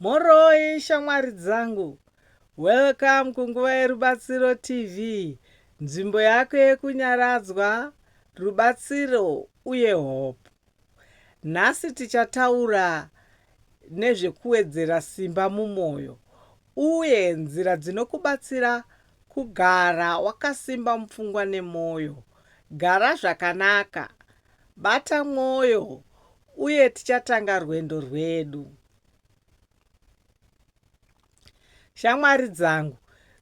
Moroi shamwari dzangu. Welcome kunguva yerubatsiro TV, nzvimbo yako yekunyaradzwa, rubatsiro uye hope. Nhasi tichataura nezvekuwedzera simba mumoyo uye nzira dzinokubatsira kugara wakasimba mupfungwa nemoyo. Gara zvakanaka Bata mwoyo uye tichatanga rwendo rwedu. Shamwari dzangu,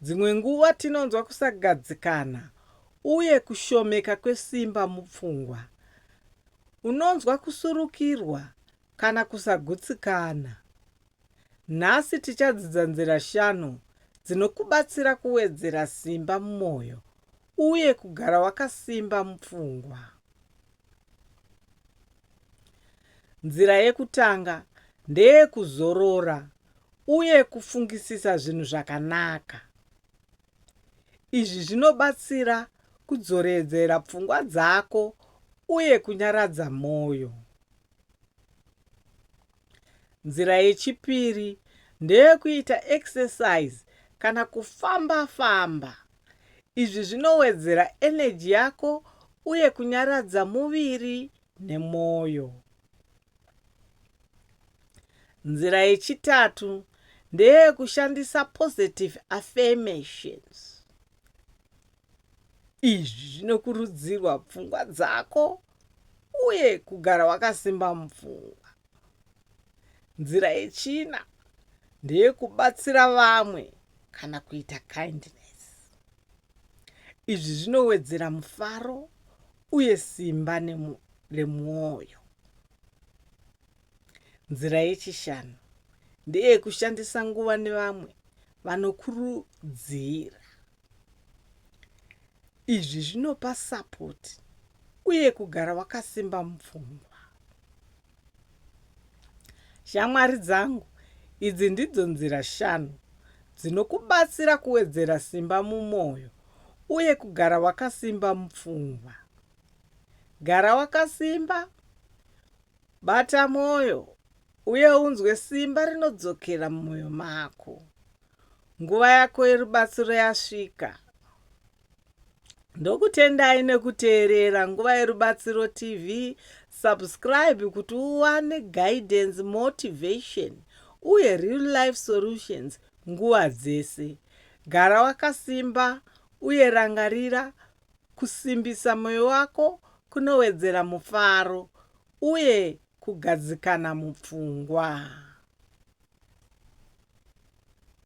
dzimwe nguva tinonzwa kusagadzikana uye kushomeka kwesimba mupfungwa. Unonzwa kusurukirwa kana kusagutsikana. Nhasi tichadzidza nzira shanu dzinokubatsira kuwedzera simba mumwoyo uye kugara wakasimba mupfungwa. Nzira yekutanga ndeyekuzorora uye kufungisisa zvinhu zvakanaka. Izvi zvinobatsira kudzoredzera pfungwa dzako uye kunyaradza mwoyo. Nzira yechipiri ndeyekuita exercise kana kufamba famba. Izvi zvinowedzera energy yako uye kunyaradza muviri nemwoyo. Nzira yechitatu ndeyekushandisa positive affirmations. Izvi zvinokurudzirwa pfungwa dzako uye kugara wakasimba mupfungwa. Nzira yechina ndeyekubatsira vamwe kana kuita kindness. Izvi zvinowedzera mufaro uye simba remwoyo. Nzira yechishanu ndeyekushandisa nguva nevamwe vanokurudzira. Izvi zvinopa support uye kugara wakasimba mupfungwa. Shamwari dzangu, idzi ndidzo nzira shanu dzinokubatsira kuwedzera simba mumwoyo uye kugara wakasimba mupfungwa. Gara wakasimba, bata mwoyo, Uye unzwe simba rinodzokera mumwoyo mako. Nguva yako yerubatsiro yasvika. Ndokutendai nekuteerera Nguva yerubatsiro TV. Subscribe kuti uwane guidance, motivation uye real life solutions nguva dzese. Gara wakasimba uye rangarira kusimbisa moyo wako kunowedzera mufaro uye kugadzikana mupfungwa.